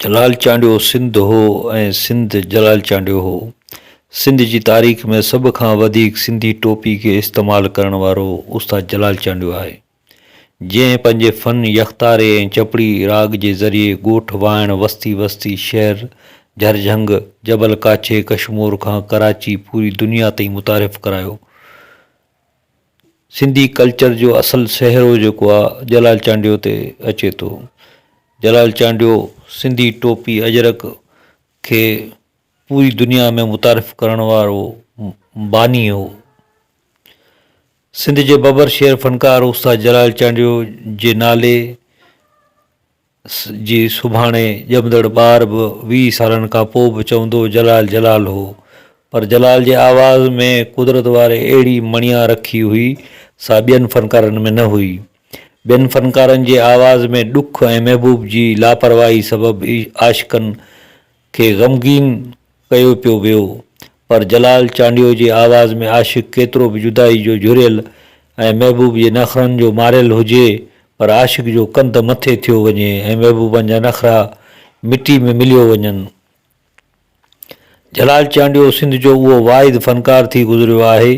جلال چانڊيو سنڌ هو ۽ سنڌ جلال چانڊيو هو. سنڌ جي تاريخ ۾ سڀ کان وڌيڪ سنڌي ٽوپي کي استعمال ڪرڻ وارو استاد جلال چانڊيو آهي. جنهن پنهنجي فن، يڪتاري ۽ چپڙي راڳ جي ذريعي ڳوٺ، واهڻ، وستي، وستي، شهر، جهرجهنگ، جبل ڪاڇي، ڪشمور کان ڪراچي پوري دنيا تائين متعارف ڪرايو. سنڌي ڪلچر جو اصل سهرو جيڪو آ جلال چانڊيو تي اچي ٿو جلال چانڊيو سنڌي ٽوپي اجرڪ کي پوري دنيا ۾ متعارف ڪرڻ وارو باني هو سنڌ جي ببر شعر فنڪار استاد جلال چانڊيو جي نالي جي سڀاڻي ڄمندڙ ٻار به ويهه سالن کان پوء به چوندو جلال جلال هو پر جلال جي آواز ۾ قدرت واري اهڙي مڻيا رکي هئي سا ٻين فنڪارن ۾ نه هئي. ٻين فنڪارن جي آواز ۾ ڏک ۽ محبوب جي لاپرواهي سبب عاشقن کي غمگين ڪيو پيو ويو پر جلال چانڊيو جي آواز ۾ عاشق ڪيترو به جدائي جو جهريل ۽ محبوب جي نخرن جو ماريل هجي پر عاشق جو ڪنڌ مٿي ٿيو وڃي ۽ محبوبن جا نخرا مٽي ۾ مليو وڃن. جلال چانڊيو سنڌ جو اهو واحد فنڪار ٿي گذريو آهي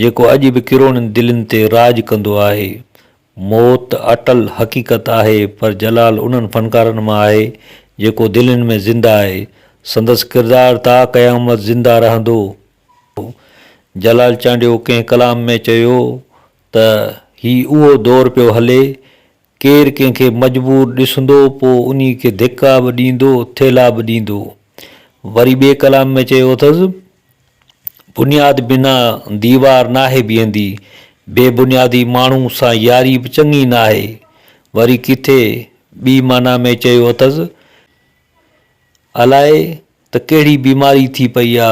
جيڪو اڄ به ڪروڙين دلين تي راڄ ڪندو آهي موت اٽل حقيقت آهي پر جلال انهن فنڪارن مان آهي جيڪو دلين ۾ زنده آهي. سندس ڪردار تا قيامت زنده رهندو. جلال چانڊيو ڪنهن ڪلام ۾ چيو ته هي اهو دور پيو هلي ڪير ڪنهن کي مجبور ڏسندو پو انهي کي ڌڪا به ڏيندو ٿيلها به ڏيندو. وري ٻئي ڪلام ۾ چيو اٿس. بنياد بنا ديوار ناهي بيهندي، بي بنيادي ماڻهو سان ياري به چڱي ناهي. وري ڪٿي ٻي معنيٰ ۾ چيو اٿس، الائي ته ڪهڙي بيماري ٿي پئي آ،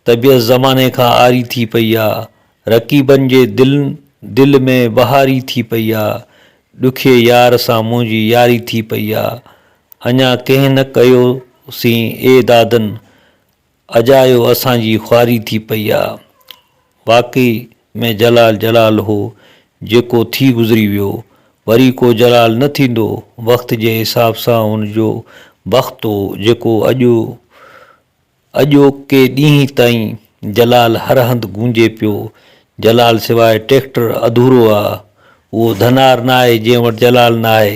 طبيعت زماني کان عاري ٿي پئي آ، رقيبن جي دلن دل ۾ وهاري ٿي پئي آ، ڏکئي يار سان منهنجي ياري ٿي پئي آ، اڃا ڪنهن نه ڪيو سين اي دادن، اجايو اسان جي خواري ٿي پئي آ. واقعي ۾ جلال جلال هو جيڪو ٿي گذري ويو. وري ڪو جلال نه ٿيندو. وقت جي حساب سان هن جو بخت هو جيڪو اڄ اڄوڪي ڏينهن تائين جلال هر هنڌ گونجي پيو. جلال سواء ٽيڪٽر اڌورو آ. اهو ڌنار ناهي جنهن وٽ جلال ناهي.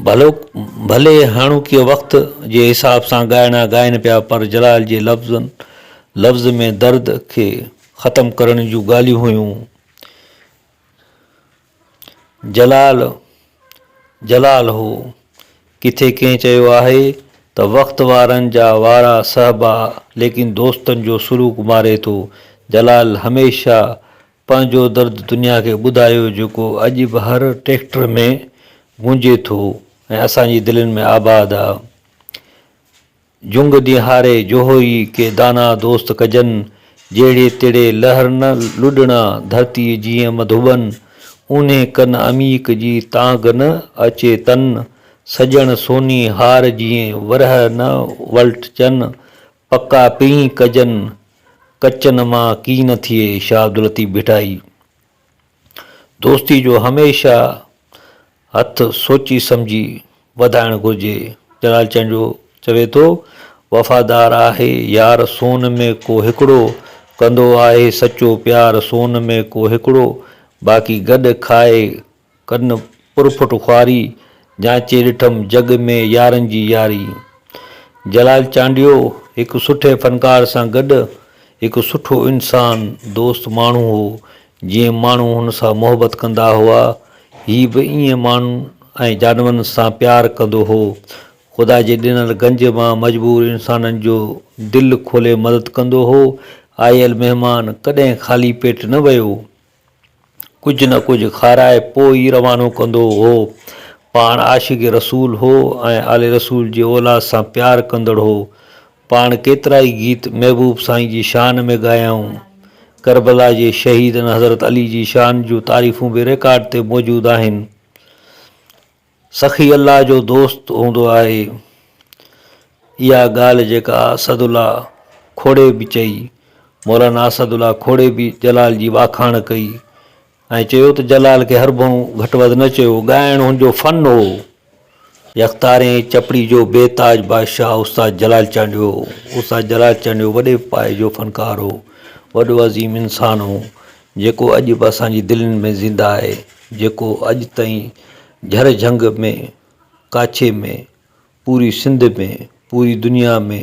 ڀلي هاڻوڪي وقت جي حساب سان ڳائڻا ڳائين پيا پر جلال جي لفظن لفظ ۾ درد کي ختم ڪرڻ جون ڳالهيون هيون جلال جلال هو ڪٿي ڪنهن چيو آهي ته وقت وارن جا وارا سهبا ليڪن دوستن جو سلوڪ ماري ٿو جلال هميشه پنهنجو درد دنيا کي ٻڌايو جيڪو اڄ به هر ٽريڪٽر ۾ گونجي ٿو ۽ اسان جي دلين ۾ آباد آ. جهنگ دين هاري جوهوئي ڪي دانا دوست ڪجن، جهڙي تڙي لهر نه لڏڻا ڌرتيء جيئن مڌوٻن، اونهي ڪن عميق جي تانگهه نه اچي تن، سڄڻ سوني هار جيئن ورهه نه ولٽجن، پڪا پينهن ڪجن، ڪچن مان ڪي نه ٿئي شاهه عبداللطيف ڀٽائي دوستي جو هميشه هٿ سوچي سمجهي وڌائڻ گهرجي. جلال چانڊيو چوي ٿو، وفادار آهي يار سون ۾ ڪو هڪڙو، ڪندو آهي سچو پيار سون ۾ ڪو هڪڙو، باقي گڏ کائي ڪن پرپٺ خواري، جانچي ڏٺم جڳ ۾ يارن جي ياري. جلال چانڊيو هڪ سٺي فنڪار سان گڏ هڪ سٺو انسان، دوست ماڻهو هو. جيئن ماڻهو هن سان محبت ڪندا هئا، هي به ايئن ماڻهن ۽ جانورن سان پيار ڪندو هو. خدا جي ڏنل گنج مان مجبور انسانن جو دل کولي مدد ڪندو هو. آيل مهمان ڪڏهن خالي پيٽ نه ويو. ڪجهه نه ڪجهه کارائي پوء ئي روانو ڪندو هو. پاڻ عاشق رسول هو ۽ آل رسول جي اولاد سان پيار ڪندڙ هو. پاڻ ڪيترائي گيت محبوب سائين جي شان ۾ ڳايائون. ڪربلا جي شهيدن حضرت علي جي شان جون تعريفون به رڪارڊ تي موجود آهن. سخي الله جو دوست هوندو آهي. اها ڳالهه جيڪا اسد الله کوڙي به چئي، مولانا اسد الله کوڙي به جلال جي واکاڻ ڪئي ۽ چيو ته جلال کي هر ڀؤن گهٽ وڌ نه چيو، ڳائڻ هن جو فن هو. يڪتارين چپڙي جو بي تاج بادشاهه استاد جلال چانڊيو هو. استاد جلال چانڊيو وڏي پايي جو فنڪار هو. وڏو عظيم انسان هو. جيڪو اڄ به اسان جي دلين ۾ زنده آهي، جيڪو اڄ تائين جھر جھنگ ۾ ڪاڇي ۾ پوري سنڌ ۾ پوري دنيا ۾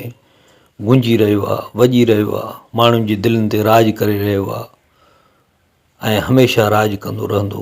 گونجي رهيو آهي، وڄي رهيو آهي، ماڻهن جي دلين تي راڄ ڪري رهيو آهي ۽ هميشه راڄ ڪندو رهندو.